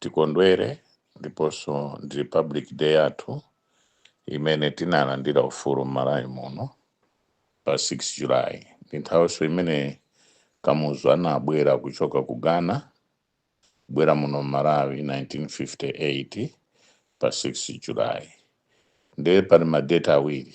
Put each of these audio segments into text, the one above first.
tikondwere ndiponso ndi Republic Day yathu imene tinalandira ufulu m'Malawi muno pa 6 July. Ndi nthawinso imene Kamuzu anabwera kuchoka ku Ghana kubwera muno m'Malawi 1958 pa 6 July. Ndiye pali madeti awiri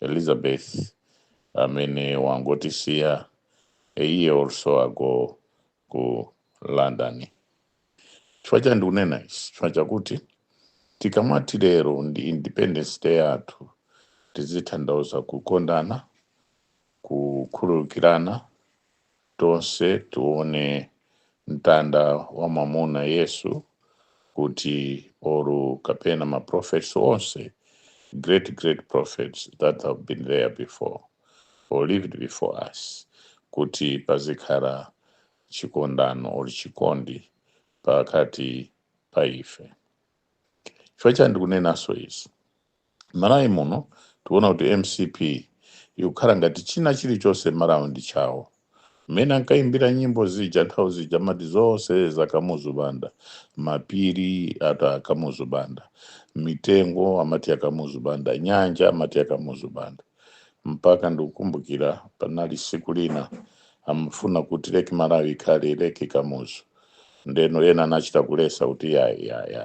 elizabeth amene wangotisiya a year or so ago ku london chifukwa chani ndikunena ichi chifukwa chakuti tikamati lero ndi independence day yathu tizitanthauza kukondana kukhululukirana tonse tione mtanda wa mwamuna yesu kuti or kapena ma prophets onse great great prophets that have been there before or lived before us kuti pazikhala chikondano or chikondi pakati pa ife chifukwa chani ndikunenanso izi Mmalawi muno tikuona kuti mcp ikukhala ngati china chilichonse mmalawi ndi chawo. Mmene ankaimbira nyimbo zija nthawi zija amati zonse za Kamuzu Banda, mapiri ati a Kamuzu Banda, mitengo amati ya Kamuzu Banda, nyanja amati ya Kamuzu Banda. Mpaka ndikukumbukira panali siku lina amafuna kuti Lake Malawi ikhale Lake Kamuzu. ndeno ena anachita kulesa kuti yayi yayi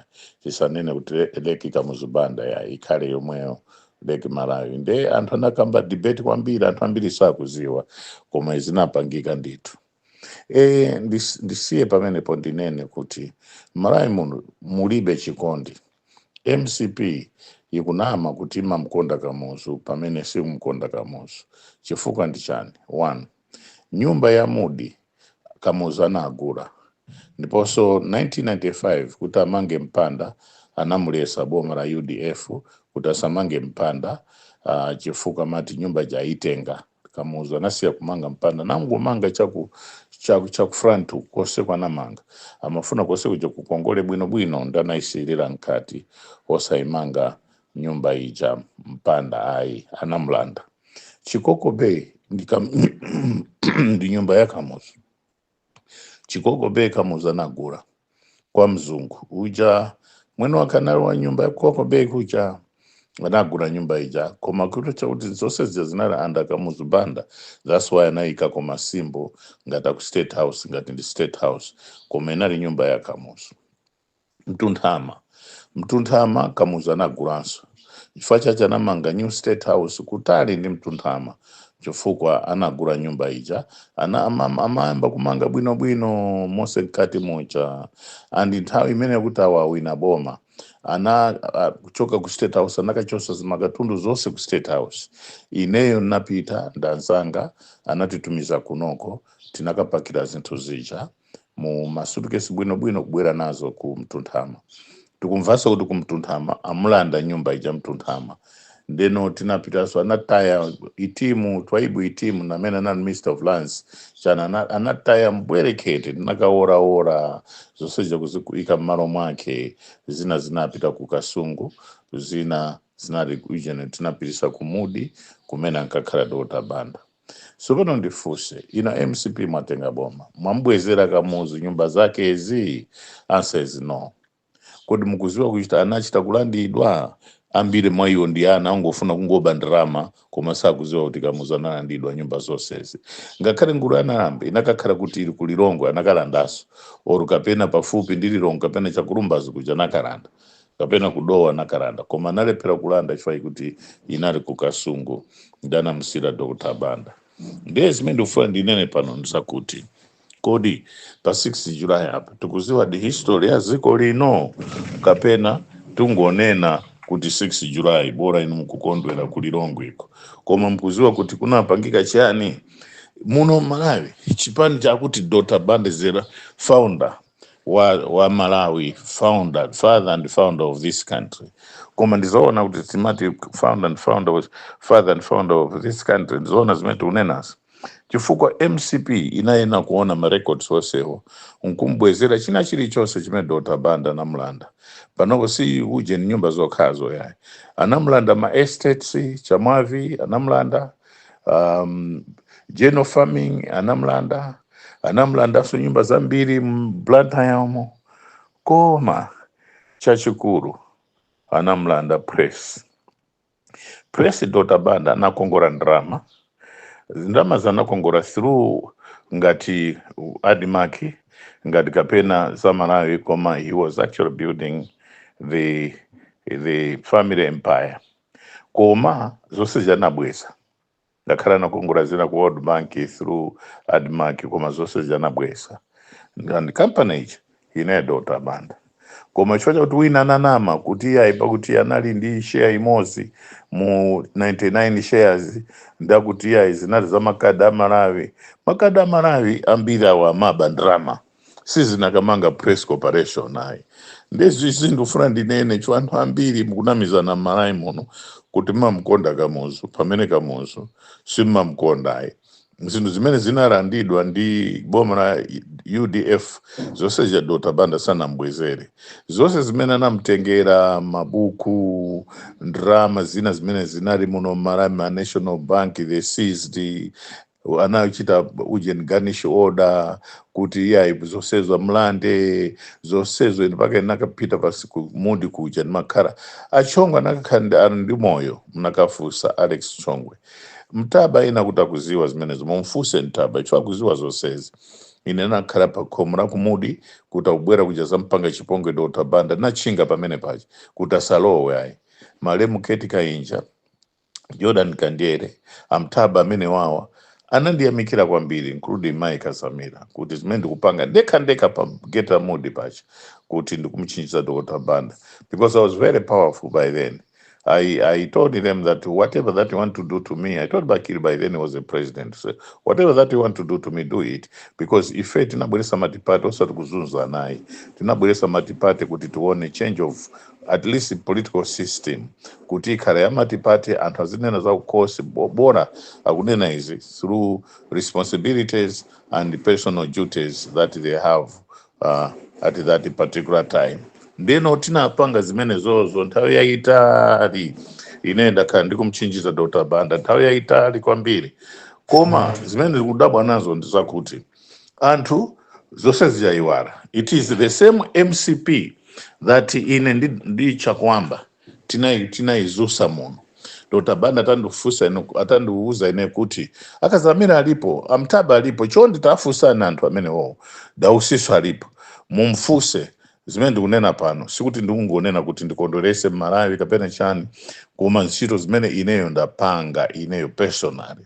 tisanene kuti le- leki kamuzu banda yayi ikhale yomweyo leki malawi nde anthu anakamba debate kwambiri anthu ambiri sakuziwa koma zinapangika ndithu e, ndis, ndisiye pamenepo ndinene kuti malawi muno mulibe chikondi mcp ikunama kuti imamkonda kamuzu pamene simkonda kamuzu chifukwa ndi chani one nyumba ya mudi Kamuzu anagula ndiponso 1995 kuti amange mpanda anamulesa boma la udf kuti asamange mpanda uh, chifukwa amati nyumba ija aitenga kamuzu anasiya kumanga mpanda nangomanga chaku chaku chaku front kose ku anamanga amafuna kose kuja kukongole bwino bwino ndi anaisirira mkati osaimanga nyumba ija mpanda ayi anamulanda chikoko bay ndi kam- ndi nyumba ya kamuzu chikoko bay kamuzu anagula kwa mzungu uja mwene wake anali wa nyumba ya chikoko bay kuja anagula nyumba ija koma kuti chakuti zonse zija zinali anda kamuzu banda that's why anayika ko ma symbol ngati aku state house ngati ndi state house koma inali nyumba ya kamuzu Mtunthama Mtunthama Kamuzu anagulanso chifukwa chache anamanga new state house kutali ndi Mtunthama chifukwa anagula nyumba ija ana ama- amayamba kumanga bwinobwino monse mkati muja and nthawi imene kuti awawina boma ana a- kuchoka ku state house anakachosa zimakatundu zonse ku state house ineyo ndinapita ndanzanga anatitumiza kunoko tinakapakira zinthu zija mu masutukesi bwinobwino kubwera nazo ku mtunthama tikumvanso kuti ku mtunthama amulanda nyumba ija mtunthama ndeno tinapitanso anataya itimu twaibu itimu namene anali minister of lands chana ana- anataya mbwerekete tinakaworaora zonse zija kuziika mmalo mwake zina zinapita ku kasungu zina zinali ujene tinapitisa ku mudi kumene ankakhala dr banda Sopano ndifuse inu a mcp mwatenga boma mwamubwezera kamuzu nyumba zakezi? Answer is no. Kodi mukuziwa kuchita anachita kulandidwa? Ambiri mwaiwo ndi ana ongofuna kungoba ndalama koma sakuziwa kuti kamuzu analandidwa nyumba zonsezi. Ngakhale ngulu ya nawambe inakakhala kuti ili ku lilongwe anakalandaso or kapena pafupi ndi lilongwe kapena chakulumbazi kuja anakalanda. kapena ku dowa anakalanda koma analephera kulanda chifukwa chakuti inali ku kasungu ndi anamusiyira dr banda ndiye zimene ndikufuna ndinene pano ndizakuti kodi pa 6 july apa tikuziwa the history ya dziko lino kapena tungonena kuti 6 july bora inu mukukondwera ku lilongwe uko koma mkuziwa kuti kunapangika chiyani muno malawi chipani chakuti dr banda is the founder wa, wa malawi father and founder of this country koma ndizoona kuti timati father and founder of this country ndizoona zimene tikunenazi chifukwa mcp inayena kuona ma records onsewo nkumbwezera china chilichonse chimene dr banda anamulanda panopo si ujeni nyumba zokhazo yayi anamulanda ma estates chamwavi anamulanda um, general farming anamulanda anamlandanso nyumba zambiri mu blantyre koma chachikulu anamlanda press press dr banda anakongora ndalama ndalamazi anakongora through ngati admarc ngati kapena za malawi koma he was actually building the the family empire koma zonsezi anabweza Ngakhale anakongola zina ku world bank through admarc koma zonsezi anabweza and company ija inali ya dr banda koma chifukwa chakuti wina ananama kuti iyayi pakuti anali ndi share imodzi mu 99 shares ndakuti iyayi zinali za makadi a malawi makadi a malawi ambiri awo amaba ndalama sizinakamanga press corporation ayi nde izizi ndikufuna ndinene chifukwa anthu ambiri mukunamizana m'malawi muno kuti mamkonda kamuzu pamene kamuzu simmamkonda ayi zinthu zimene zinalandidwa ndi boma la udf zonse zija dr banda sanambwezere zonse zimene anamtengera mabuku ndrama zina zimene zinali muno m'malawi ma national bank they seized anachita ujeni garnish order kuti iyayi zosezo mlande zosezo ine mpaka nakapita pasi ku mudi kuja ndimakhala achongwe anakakhala ndi ali ndi moyo mnakafusa alex chongwe ntaba ina kuti akuziwa zimenezo mumfuse ntaba chifukwa akuziwa zosezi ine nakhala pa khomo la kumudi kuti akubwera kuja kuzampanga chipongwe dr banda natchinga pamene paja kuti asalowe ayi malemu kate kainja Jordan Kanjere, a Ntaba amene wawa anandiyamikira kwambiri including Mai Kadzamira kuti zimene ndikupanga ndekha ndekha pa gate la Mudi paja kuti ndikumchinjiza Dr. Banda because I was very powerful by then. I, I told them that whatever that you want to do to me, I told Bakili by then he was a president. So whatever that you want to do to me, do it. Because ife tinabweresa matipate osati kuzunzana ayi. Tinabweresa matipate kuti tione change of at least political system kuti ikhale ya multiparty anthu azinena za kukhosi bo- bola akunena izi through responsibilities and personal duties that they have uh, at that particular time ndeno tinapanga zimenezozo nthawi yayitali ine ndakhala ndikumchinjiza dr banda nthawi yayitali kwambiri koma zimene ndikudabwa nazo ndizakuti anthu zonse zija aiwala it is the same mcp that ine ndi, ndi chakuamba tinai- tinaizusa muno dr banda atandifunsa ine atandiuza ine kuti a kadzamira alipo a ntaba alipo chonde tafunsani anthu amenewowo dausinso alipo mumfuse zimene ndikunena pano sikuti ndikungonena kuti ndikondwerese mmalawi kapena chani koma ntchito zimene ineyo ndapanga ineyo personally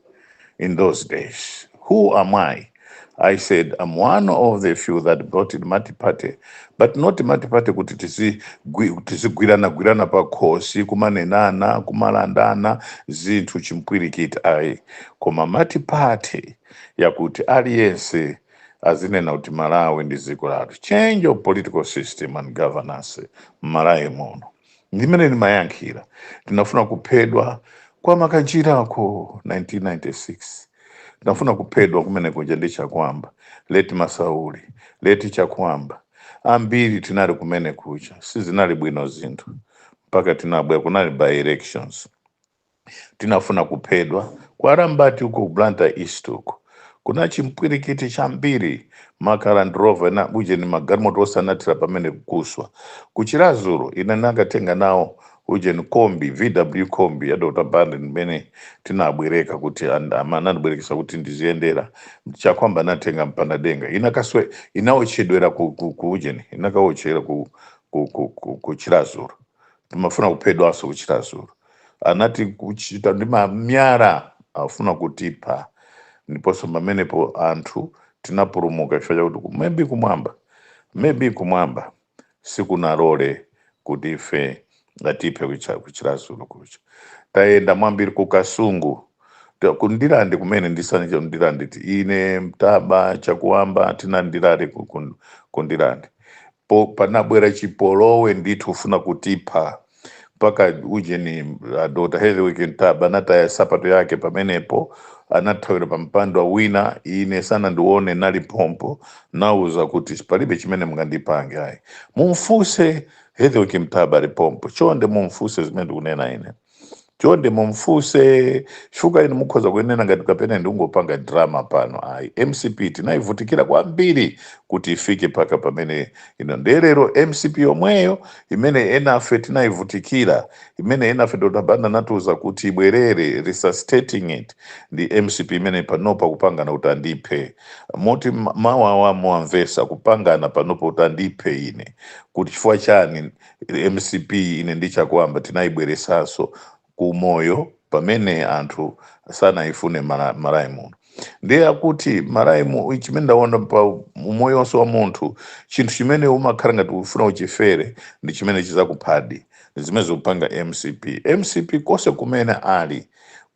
in those days. Who am I? I said, I'm one of the few that brought in multi-party, but not multi-party kuti tizi- gwi- tizigwiranagwirana pakhosi kumanenana kumalandana zinthu chimpwirikiti ayi koma multi-party yakuti aliyense azinena kuti malawi ndi dziko lathu change of political system and governance m'malawi muno Ndi mmene ndimayankhira. Tinafuna kuphedwa kwa Makanjirako 1996. Tinafuna kuphedwa kumene kuja ndi Chakuamba, late Masauli, late Chakuamba. Ambiri tinali kumene kuja. Sizinali bwino zinthu. Mpaka tinabwera, kunali by-elections. tinafuna kuphedwa. Kwa Arambati uko ku Blantyre East uko kuna chimpwirikiti chambiri maka Land Rover na ujeni magalimoto onse anathira pamene kuswa. Ku Chiradzulu ine ndinakatenga nawo ujeni kombi VW kombi ya Dr. Banda imene tinabwereka kuti and- ama- anandibwerekesa kuti ndiziyendera Chakuamba anatenga mpanda denga inakaswe inaotchedwera ku, ku, ku ujeni inakaotchera ku, ku, ku, ku, ku Chiradzulu timafuna kuphedwanso ku Chiradzulu. Anati kuchita ndi mamiyala afuna kutipha, ndiponso pamenepo anthu tinapulumuka chifukwa chakuti ku- maybe kumwamba maybe kumwamba sikunalole kuti ife atiphe kucha- ku Chiradzulu kucha. Tayenda mwambiri ku Kasungu Nda- ku ndirande kumene ndisanicho ndirande ti- ine ntaba chakuamba tina ndilale ku- ku- ku ndirande po panabwera chipolowe ndithu ufuna kutipha mpaka ujeni uh, dr hetherwick ntaba anataya sapato yake pamenepo anathawira pa mpando wa wina ine sanandione nali pompo nauza kuti palibe chimene mungandipange ayi mumfuse hetherwick ntaba ali pompo chonde mumfuse zimene ndikunena ine chonde mumfuse chifukwa inu mukhoza kuyenera ngati kapena ndikungopanga drama pano ayi mcp tinayivutikira kwambiri kuti ifike mpaka pamene ino ndiye lero mcp yomweyo imene enafe tinayivutikira imene enafe dr banda anatiuza kuti ibwerere resuscitating it ndi mcp imene panopa kupangana kuti andiphe moti ma- mawu awa muwamvesa kupangana panopa kuti andiphe ine kuti chifukwa chani mcp ine ndi chakuamba tinaibweresanso ku moyo pamene anthu sanaifune mala- malawi muno ndiye akuti malawi mu chimene ndaona pa umoyo wonse wa munthu chinthu chimene umakhala ngati ufuna uchifere ndi chimene chizakuphadi ndi zimene zikupanga mcp mcp konse kumene ali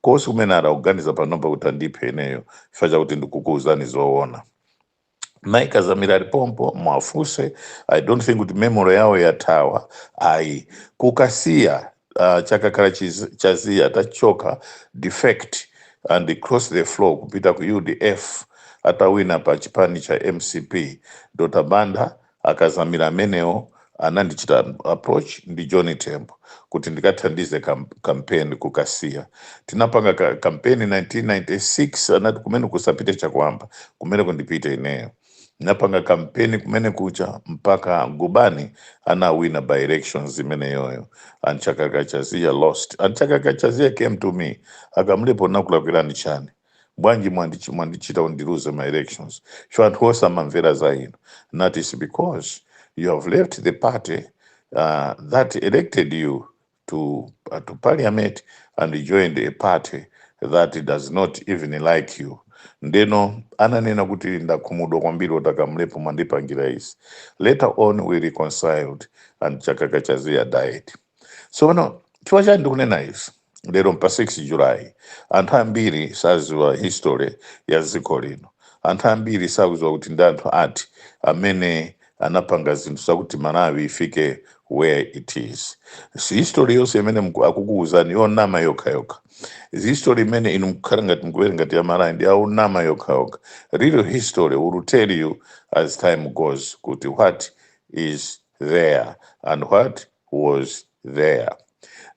konse kumene ali akuganiza panopa kuti andiphe ineyo chifukwa chakuti ndikukuuzani zoona mai kadzamira ali pompo mwafuse i don't think kuti memory yawo yathawa ayi ku kasiya uh, chakakala chiz- chaziya atachoka defect and cross the floor kupita ku udf atawina pa chipani cha mcp dr banda A Kadzamira amenewo anandichita approach ndi John Tembo kuti ndikathandize kam- campaign ku Kasiya. Tinapanga ka- campaign 1996 anati kumeneko asapite Chakuamba, kumeneko ndipite ineyo. Napanga campaign kumene kucha mpaka Gubani anawina by elections imeneyoyo. And Chakaka Chaziya lost. And Chakaka Chaziya came to me. A Kamlepo nakulakwirani chani? bwanji mwandich mwandichita undiluze ma elections so anthu osamamvera za inu that is because you have left the party uh, that elected you to, uh, to parliament and joined a party that does not even like you ndeno ananena kuti ndakhumudwa kwambiri poti a Kamlepo mwandipangira izi later on we reconciled and Chakakala Chaziya died so pano chifukwa chani ndikunena izi lero n'pa 6 julayi anthu ambiri saziwa history ya dziko lino anthu ambiri sakuziwa kuti ndi anthu ati amene anapanga zinthu zakuti malawi ifike where it is si history yonse imene mku- akukuwuzani yonama yokha yokha history imene inu mkukhala ngati mkuwerenga ngati ya malawi ndi yonama yokha yokha real history will tell you as time goes kuti what is there and what was there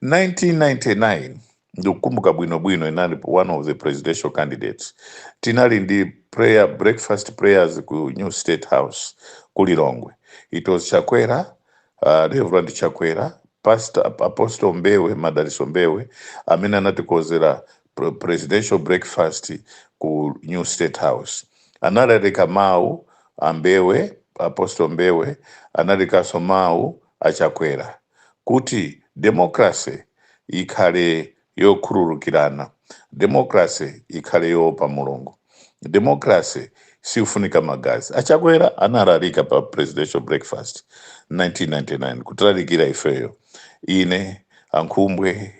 1999 ndikukumbuka bwino bwino ndinali one of the presidential candidates tinali ndi prayer breakfast prayers ku new state house ku lilongwe it was chakwera uh, reverend chakwera pastor apostle mbewe madaliso mbewe amene anatikonzera pre- presidential breakfast ku new state house analalika mawu a Mbewe apostle mbewe analalikanso mawu a Chakwera kuti democracy ikhale yokhululukirana, democracy ikhale yoopa Mulungu, democracy sikufunika magazi. A Chakwera analalika pa presidential breakfast 1999 kutilalikira ifeyo, ine, a Nkhumbwe,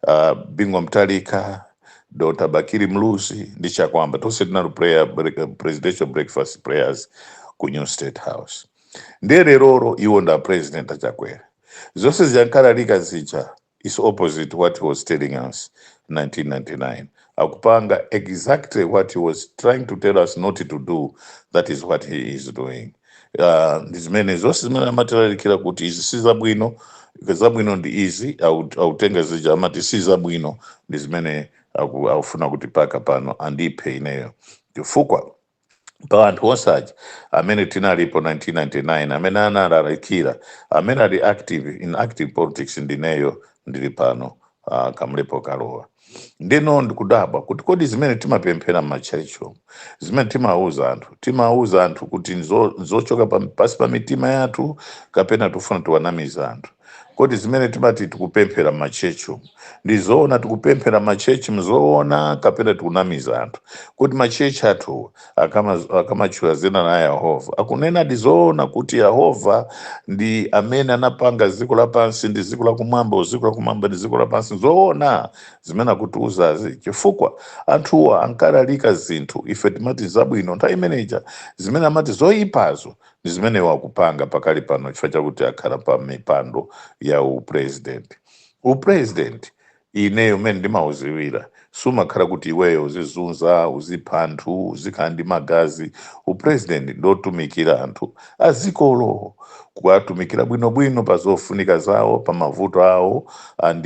a Bingu wa Mutharika, Dr. Bakili Muluzi ndi Chakwamba tonse tinali prayer break, presidential breakfast prayers ku New State House. ndiye leroro iwo ndi a president a Chakwera zonse zija ankalalika zija is opposite what he was telling us 1999 akupanga exactly what he was trying to tell us not to do that is what he is doing uh, ndi zimene zonse zimene amatilalikira kuti izi si zabwino zabwino ndi izi a- akutenga zija amati si zabwino ndi zimene aku- akufuna kuti mpaka pano andiphe ineyo chifukwa pa anthu onse aja amene tinalipo 1999 amene analalikira amene ali active in active politics ndineyo ndili pano uh, Kamlepo Kalua ndeno ndikudabwa kuti kodi zimene timapemphera m'matchalitchimo zimene timauza anthu timauza anthu kuti nzo- nzochoka pa- pansi pa mitima yathu kapena tikufuna tiwanamize anthu Kodi zimene timati tikupemphera mma church umu ndi zoona tikupemphera mma church mu zoona kapena tikunamiza anthu kuti ma church athuwa akama- akamatchula dzina la Yehova akunenadi zoona kuti Yehova ndi amene anapanga dziko lapansi ndi dziko lakumwamba dziko lakumwamba ndi dziko lapansi zoona zimene akutiuzazi chifukwa anthuwa ankalalika zinthu ife timati zabwino nthawi imeneja zimene amati zoyipazo Ndi zimene iwo akupanga pakali pano chifukwa chakuti akhala pa mipando ya u president. U president ineyo mmene ndimauziwira sumakhala kuti iweyo uzizunza, uzipha anthu, uzikhala ndi magazi. U president ndi otumikira anthu a dzikolo. Kuwatumikira bwinobwino pa zofunika zawo, pa mavuto awo and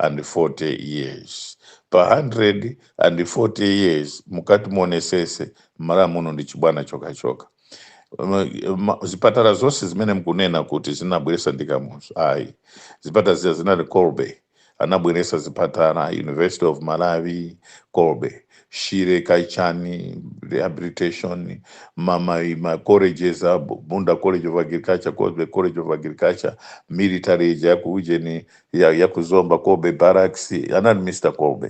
140 years pa 140 years mukati muonesese mmalawi muno ndi chibwana chokhachoka M- ma- zipatala zonse zimene mkunena kuti zinabweresa ndi kamuzu ayi zipatala zija zinali Colby anabweresa zipatala university of malawi Colby shire kaya chani rehabilitation mama ma colleges a Bu- bunda college of agriculture Colby college of agriculture military ija ya ku ujeni ya, ya ku Zomba Cobbe Barracks anali Mr Colby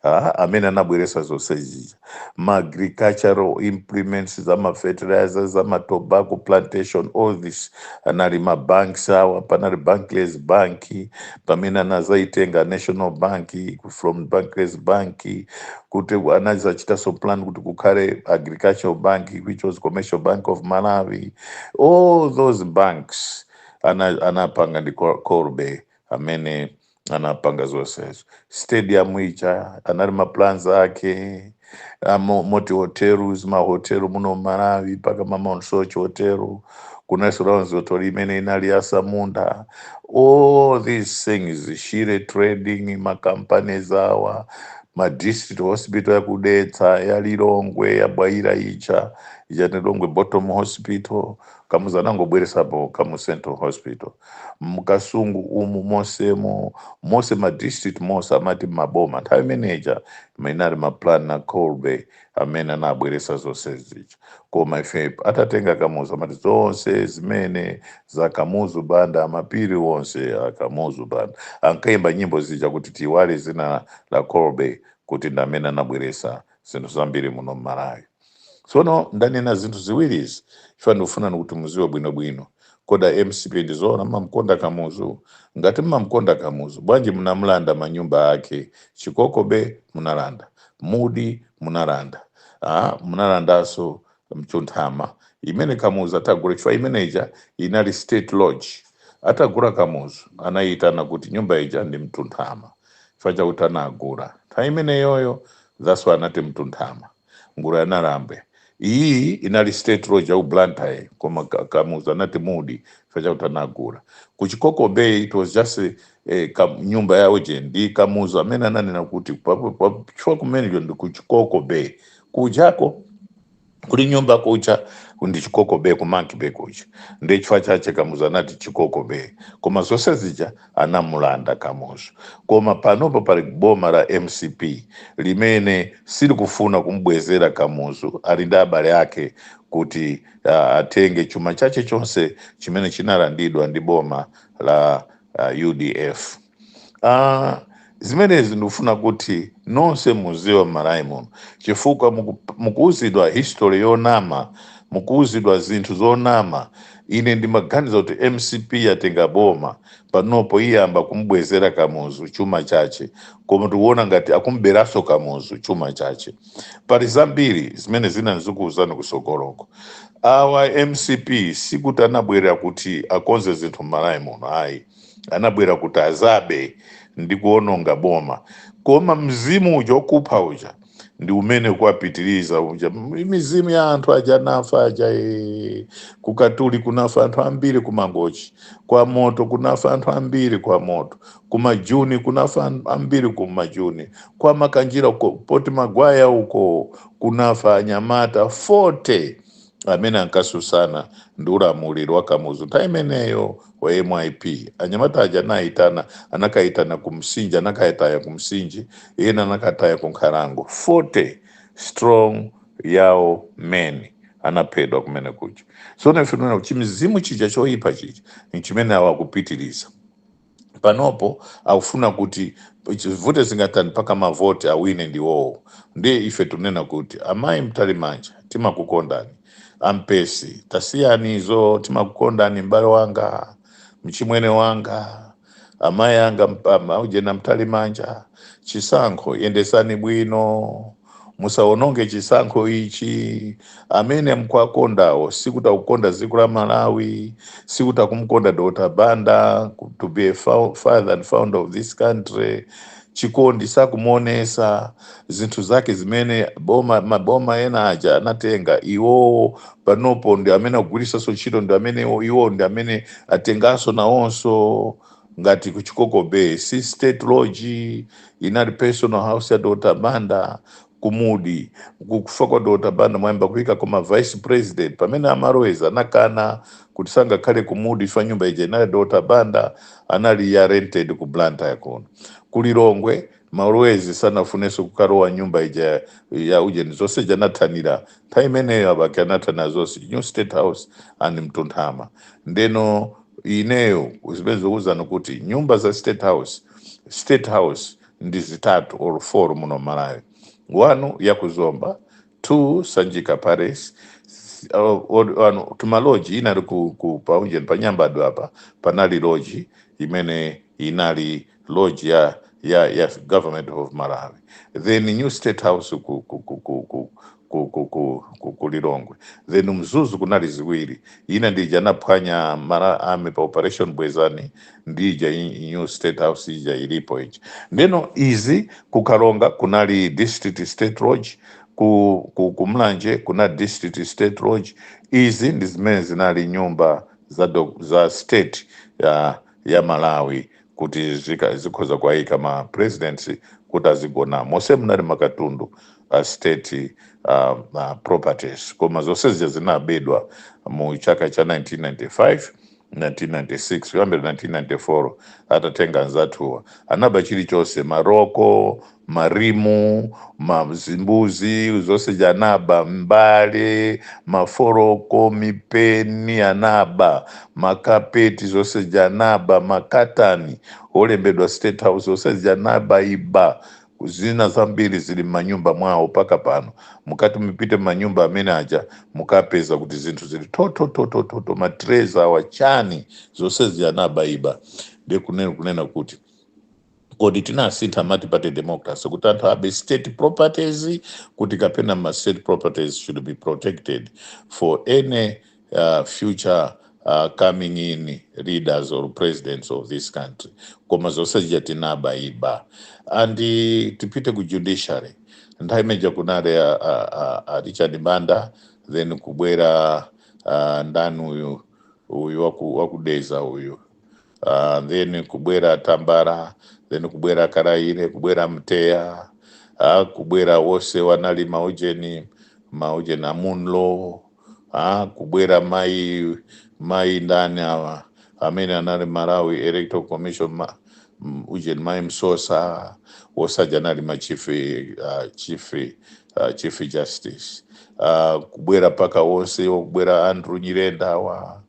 ah, amene anabweresa zonse zija ma agricultural implements za ma fertilizer za ma tobacco plantation all this anali ma banks awa panali Barclays Bank pamene anazaitenga National Bank from Barclays Bank kuti anazachitaso plan kuti kukhale agricultural bank which was Commercial Bank of Malawi all those banks ana anapanga ndi Col- Colby amene anapanga zonsezo stadium ija anali maplans ake amo- moti hotels mahotelu muno mmalawi mpaka ma Mount Soche hotelu kunaliso Ryalls hotel imene inali ya asamunda all these things shire trading macompanies awa ma district hospital ya ku Dedza ya lilongwe ya Bwaila ija ija lilongwe bottom hospital Kamuzu anangobweresapo Kamuzu central hospital mkasungu umu mosemo mose ma district mose amati maboma nthawi imeneja mainali ma plan a Colby amene anabweresa zonse zija koma ife atatenga kamuzu amati zonse zimene za kamuzu banda mapiri onse a kamuzu banda ankaimba nyimbo zija kuti tiiwale zina la Colby kuti ndi amene anabweresa zinthu zambiri muno mmalawi Tsono ndanena zinthu ziwiri izi chifukwa ndikufuna kuti muziwe bwino bwino. Kodi a mcp ndi zoona mumamkonda Kamuzu? Ngati mumamkonda Kamuzu bwanji munamlanda manyumba ake? Chikoko Bay munalanda, Mudi munalanda, ah munalandanso Mtunthama imene Kamuzu atagula chifukwa imene ija inali state lodge. Atagula Kamuzu anaiitana kuti nyumba ija ndi Mtunthama chifukwa chakuti anagula nthawi imeneyoyo thats why anati Mtunthama. nguru ya nawambe iyi inali state lodge ya ku blantyre koma Ka- kamuzu anati mudi chifukwa chakuti anagula ku chikoko bay it was just eh, eh, ka, nyumba ya ujeni nde kamuzu amene ananena kuti pa- pa- pa- chifukwa kumeneko ndi ku chikoko bay kujako kuli nyumba kuja ndi chikoko bay ku monkey bay kuja nde chifukwa chache kamuzu anati chikoko bay koma zonse zija anamulanda Kamuzu koma panopa pali boma la mcp limene silikufuna kumbwezera Kamuzu ali ndi abale ake kuti uh, atenge chuma chache chonse chimene chinalandidwa ndi boma la uh, udf uh, Zimenezi ndikufuna kuti nonse muziwe mmalawi muno chifukwa muku, mukuuzidwa history yonama mukuuzidwa zinthu zonama ine ndimaganiza kuti mcp yatenga boma panopo iyamba kumbwezera kamuzu chuma chache koma tikuona ngati akumberaso kamuzu chuma chache pali zambiri zimene zina nzikuuzani kusogoloko awa mcp sikuti anabwera kuti akonze zinthu mmalawi muno ayi anabwera kuti azabe ndi kuononga boma koma mzimu uja okupha uja ndi umene akuwapitiriza uja M- mizimu ya anthu aja anafa aja ee. kukatuli kunafa anthu ambiri kumangochi kwa moto kunafa anthu ambiri kwa moto kumajuni kunafa an- ambiri kumajuni kwa makanjira uko Fort Maguire uko kunafa anyamata 40 amene ankasusana ndi ulamuliro wa Kamuzu nthawi imeneyo wa MYP. Anyamata aja anayitana, anakayitana ku Msinje, anakayataya ku Msinje, ena anakataya ku Nkhalango. 40 strong Yao men anaphedwa kumenekuja. Tsono ife tinaona kuti chimizimu chija choyipa chija n'chimene awa akupitiriza. panopo akufuna kuti zivute zingatani mpaka mavoti awine ndi iwowo ndiye ife tikunena kuti amayi mtalimanja timakukondani a mpesi tasiyani izo timakukondani m'bale wanga mchimwene wanga amayi anga mp- ama- ujena mtalimanja chisankho yendesani bwino Musawononge chisankho ichi, amene mukuwakondawo sikuti akukonda dziko la Malawi, sikuti akumukonda Dr Banda to be a fou- father and founder of this country, chikondi sakumuonesa, zinthu zake zimene boma, maboma ena aja anatenga iwowo panopo ndi amene akugwiritsaso ntchito ndi amene iwowo ndi amene atenganso nawonso. ngati ku Chikoko Bay si state lodge inali personal house ya Dr Banda ku Mudi kukufa kwa Dr Banda mwayamba kuyika koma vice president pamene a Malewezi anakana kuti sangakhale ku Mudi chifukwa nyumba ija inali ya Dr Banda anali ya rented ku Blantyre kuno ku Lilongwe Malewezi sanafunenso kukalowa nyumba ija ya ujeni zonse zija anathanira nthawi imeneyo a Bakili anathana zonse new state house and Mtunthama ndeno ineyo zimene ndikuuzani kuti nyumba za state house state house ndi zitatu or four muno m'Malawi 1 ya ku Zomba 2 Sanjika Palace tumaloji inali ku, ku paunjeni pa Nyambadwe apa panali loji imene inali loji ya ya ya government of Malawi then new state house ku Lilongwe then Mzuzu kunali ziwiri ina ndija anaphwanya Malawi Army pa Operation Bwezani ndi ija new state house ija ilipo ija ndeno izi ku Karonga kunali district state lodge ku, ku, ku Mulanje kuna district state lodge izi ndi zimene zinali nyumba za, do, za state ya, ya Malawi kuti zika, zikhoza kuwayika ma presidents kuti azigona mose munali makatundu a state uh, uh, properties koma zonse zija zinabedwa mu chaka cha 1995 1996 kuyambira 1994 atatenga anzathuwa anaba chilichonse maroko marimu mazimbuzi zonse zija anaba mbale maforoko mipeni anaba makapeti zonse zija anaba makatani olembedwa state house zonse zija anaba iba Zina zambiri zili m'manyumba mwawo paka pano. Mukati mupite m'manyumba amene aja mukapeza kuti zinthu zili thothothothotho, ma trays awa chani zonsezi anabaiba. Ndiye kunena kuti kodi tinasintha multiparty democracy kuti anthu abe state properties kuti kapena ma state properties should be protected for any uh, future uh, coming in leaders or presidents of this country koma zonse zija tinaba iba and eh, tipite ku judiciary nthawi imeja kunali a, a, a, a richard banda then kubwera uh, ndani uyu uyu waku- wa ku dedza uyu uh, then kubwera tambala then kubwera kalaile kubwera mtegha uh, kubwera wose wanali maujeni maujeni a munlo aa kubwera mayi mayi ndani awa amene anali malawi electoral commission ma, m- ujeni mayi msosa wose aja anali ma chief, uh, chief, uh, chief justice uh, kubwera mpaka wonse kubwera andrew nyirenda awa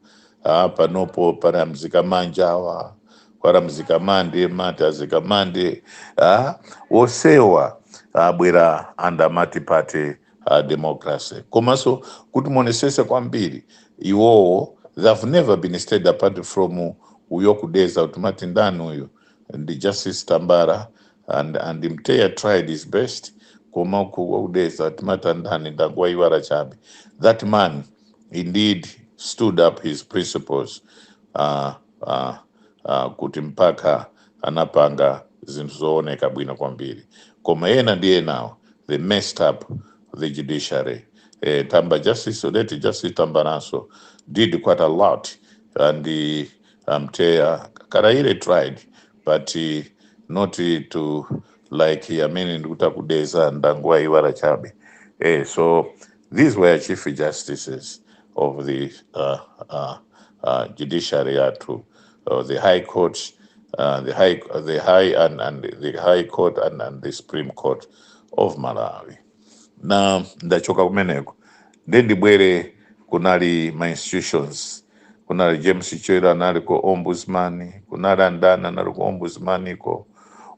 uh, panopo pali a mzikamanja awa pali a mzikamande mati azikamande uh, wosewa abwera under multiparty uh, democracy komanso kuti muonesese kwambiri iwowo they have never been steady apart from uyo ku dedza timati ndani uyu ndi justice tambala and, and mtegha tried his best koma ku- ku dedza timati andani ndangowaiwala chabe that man indeed stood up his principles uh, uh, uh, kuti mpaka anapanga zinthu zooneka bwino kwambiri koma ena ndi enawo they messed up the judiciary eh, tamba justice odeti justice tambalanso did quite a lot and uh, mtegha kalaile tried but uh, not to like amene ndikuti a ku dedza ndangowaiwala chabe eh, so These were chief justices of the uh, uh, uh, judiciary yathu uh, the high court uh, the high the high and, and the high court and, and the supreme court of malawi na ndachoka kumeneko ndiye ndibwere kunali ma institutions kunali james chirwa anali ku ombudsman kunali andani anali ku ombudsman iko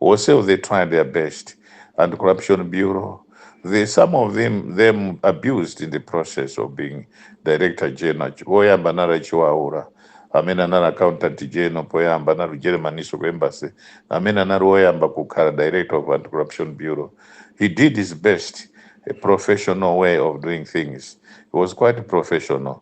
onsewo they tried their best anti corruption bureau they, some of them, them abused in the process of being director general woyamba anali a chiwaula amene anali accountant general poyamba anali ku jeremaninso ku embassy amene anali woyamba kukhala director of anti corruption bureau he did his best a professional way of doing things he was quite professional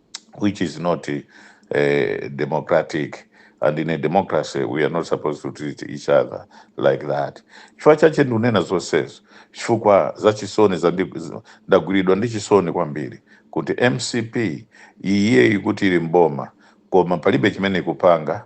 which is not uh, democratic and in a democracy we are not supposed to treat each other like that chifukwa chache ndikunena zonsezo chifukwa za chisoni zandi- z- ndagwiridwa ndi chisoni kwambiri kuti mcp iyeyi kuti ili mboma koma palibe chimene ikupanga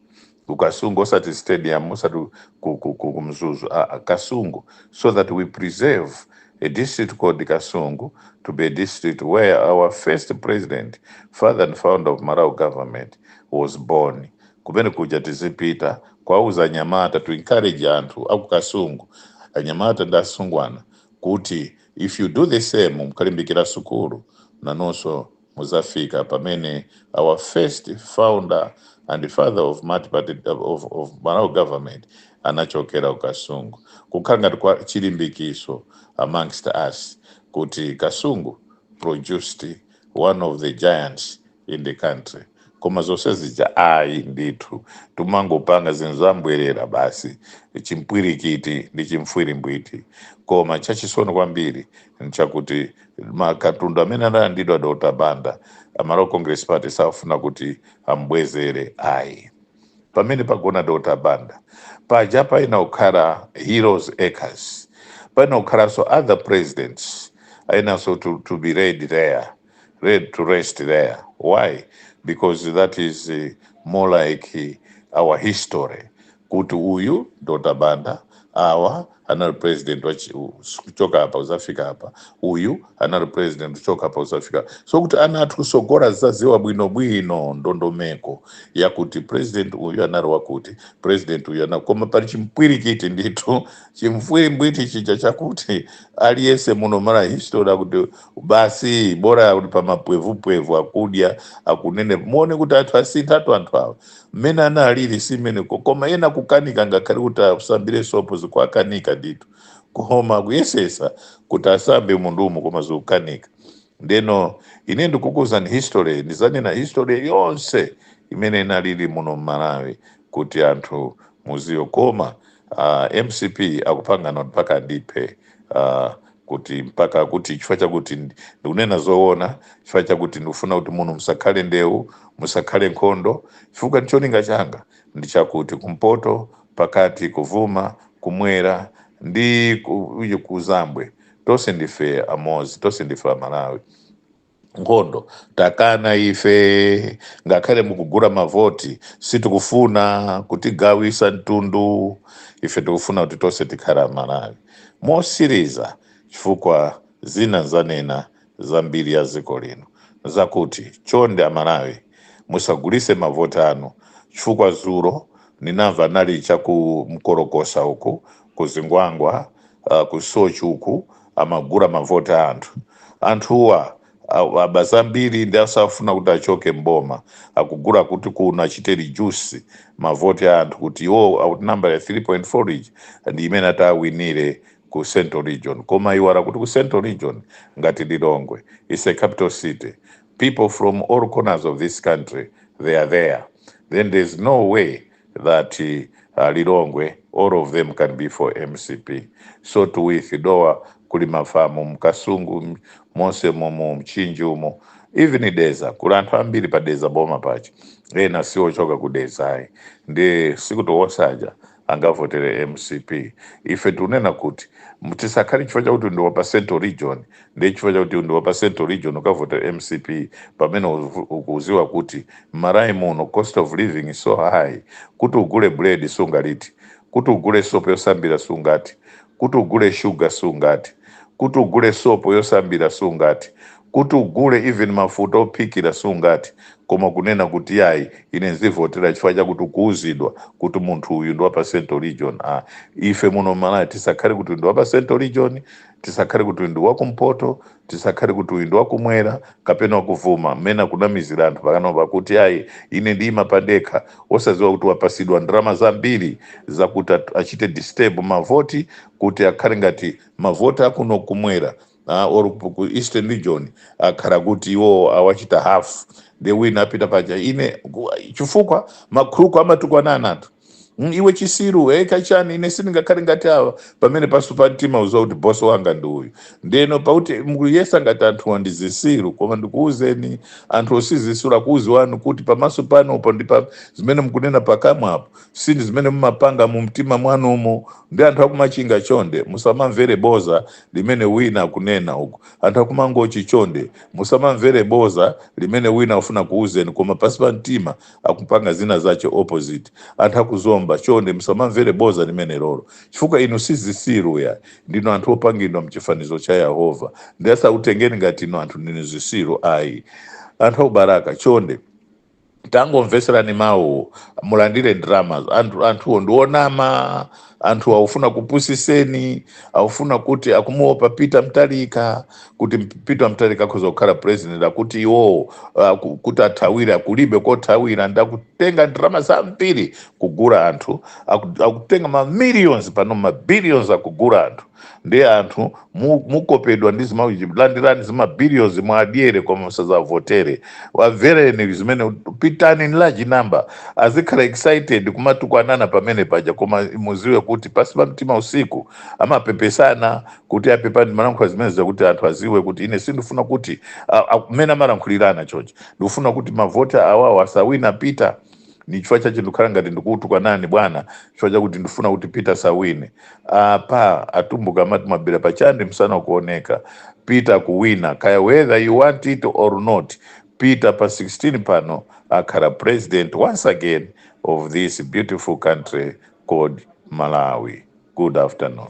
ku kasungu osati stadium osati ku, ku, ku, ku mzuzu ah, ah, kasungu so that we preserve a district called kasungu to be a district where our first president father and founder of malawi government was born kumene kuja tizipita kuwauza anyamata to encourage anthu aku kasungu anyamata ndi asungwana kuti if you do the same mukalimbikira sukulu nanunso muzafika pamene our first founder and father of multiparty of, of Malawi government anachokera ku Kasungu kukhala ngati kwa chilimbikiso amongst us kuti Kasungu produced one of the giants in the country koma zonse zija ayi ndithu tumangopanga zinthu zambwerera basi chimpwirikiti ndi chimfwirimbwiti koma chachisoni kwambiri nchakuti makatundu amene analandidwa Dr. Banda a Malawi Congress Party safuna kuti ambwezere ayi pamene pagona Dr. Banda paja payenera kukhala Heroes Acres payenera kukhalanso other presidents enanso to, to be laid there laid to rest there why because that is uh, more like uh, our history kuti uyu Dr Banda awa anali president wa chi, kuchoka apa kuzafika apa uyu anali president kuchoka apa kuzafika so kuti ana athu kusogolo azaziwe bwino bwino ndondomeko yakuti president uyu anali wakuti president uyu anali koma pali chimpwirikiti ndithu chimfwirimbwiti chija chakuti aliyese muno mmalawi history akuti basi bora uli pa mapwevupwevu akudya akunene muone kuti anthu asinthatu anthu awa mmene analili si mmene ko- koma ena kukanika ngakhale kuti asambire sopo zikuwakanika ndithu koma kuyesesa kuti asambe mundumu koma zikukanika ndeno ine ndikukuuzani history ndizanena history yonse imene inalili muno mmalawi kuti anthu muziwe koma uh, mcp akupangana mpaka andiphe uh, kuti mpaka kuti chifukwa chakuti ndikunena zoona chifukwa chakuti ndikufuna kuti muno musakhale ndewu musakhale nkhondo chifukwa cholinga changa ndi chakuti kumpoto pakati kuvuma kumwera ndi ku- kuzambwe tonse ndife amozi tonse ndife amalawi nkhondo takana ife ngakhale mukugula mavoti sitikufuna kutigawisa mtundu ife tikufuna kuti tonse tikhale amalawi motsiriza chifukwa zina zanena za mbiri ya ziko lino zakuti chonde amalawi musagulise mavoti anu chifukwa zulo ninamva ndinali chaku nkolokosa uku ku zingwangwa uh, ku sochi uku amagula mavoti a anthu anthuwa a- aba zambiri ndiye safuna kuti achoke mboma akugula kuti kuno achite reduce mavoti a anthu kuti iwo ati nambala ya 3.4 region ndi imene ati awinire ku central region koma aiwala kuti ku central region ngati lilongwe is a capital city people from all corners of this country they are there then there is no way that uh, Lilongwe all of them can be for mcp so too with dowa kuli mafamu mkasungu m- monse momo mchinji umo even deza kuli anthu ambiri pa deza boma pache ena siochoka ku dezayi ndi sikuti onse aja angavotere mcp ife tikunena kuti tisakhale chifukwa chakuti ndi wa pa central region ndiye chifukwa chakuti ndi wapa central region ukavotere mcp pamene uvu- ukuziwa kuti m'malawi muno cost of living is so high kuti ugule bread sungaliti kuti ugule sopo yosambira sungati kuti ugule sugar sungati kuti ugule sopo yosambira sungati kuti ugule even mafuta ophikira sungati koma kunena kuti yayi ine ndizivotera chifukwa chakuti ukuwuzidwa kuti munthu uyu ndi wapa central region ah ife muno m'malawi tisakhale kuti ndi wapa central region tisakhale kuti uyu ndi wakumpoto tisakhale kuti uyu ndi wakumwera kapena wakuvuma mmene akunamizira anthu pakanopa kuti ayi ine ndiyima pandekha osadziwa kuti wapasidwa ndalama zambiri zakuti at- achite disturb mavoti kuti akhale ngati mavoti akuno kumwera ah, or ku ku eastern region akhale kuti iwo awachita half asawine a peter paja ine ku- chifukwa makhuluku amatukwanana anthu Mm, iwe chisiru hey, kachani ine sindingakhale ngati awa pamene pansi pa mtima uziwa kuti bosi wanga ndi uyu ndeno pakuti mukuyesa ngati anthuwa ndi zisiru koma ndikuwuzeni anthu si zisiru akukuziwani kuti pamaso panupo ndi pa zimene mukunena pakamwapo sindi zimene mumapanga mu mtima mwanumo ndi anthu akumachinga chonde musamamvere boza limene wina akunena uko anthu akumangochi chonde musamamvere boza limene wina afuna kuwuzeni koma pansi pa mtima akupanga zina zache opposite anthu akuzomba chonde musamamvere boza limenelolo chifukwa inu sizisiru ya ndinu anthu opangidwa mchifanizo cha yehova ndiye asakutengeni ngati inu anthu ndinu zisiru ayi anthu akubalaka chonde tangomveserani mawu mulandire ndalama anthuwo ndionama anthu akufuna kupusiseni akufuna kuti akumuopa peter mutharika kuti peter mutharika akazakhala president akuti iwowo ah, ku- kuti athawire akulibe kothawira ndiye akutenga ndalama zambiri kugula anthu aku- akutenga ma millions pano ma billions akugula anthu ndiye anthu mu- mukopedwa ndi zima- landirani zimabillions mwadyere koma musazavotere wamvereni zimene pitani in large number azikhala excited kumatukwanana pamene paja koma muziwe kuti pasi pa mtima usiku amapepesana kuti apepani ndimalankhula zimenezi zakuti anthu aziwe kuti ine sindifuna kuti a- a- mmene amalankhulirana chochi ndikufuna kuti mavoti awawo asawine peter ni chifukwa chache ndikukhala ngati ndikukutukwanani bwana chifukwa chakuti ndifuna kuti peter sawine apa atumbuka amati mabira pachande msana ukuoneka peter kuwina kaya whether you want it or not peter pa 16 pano akhala president once again of this beautiful country called malawi good afternoon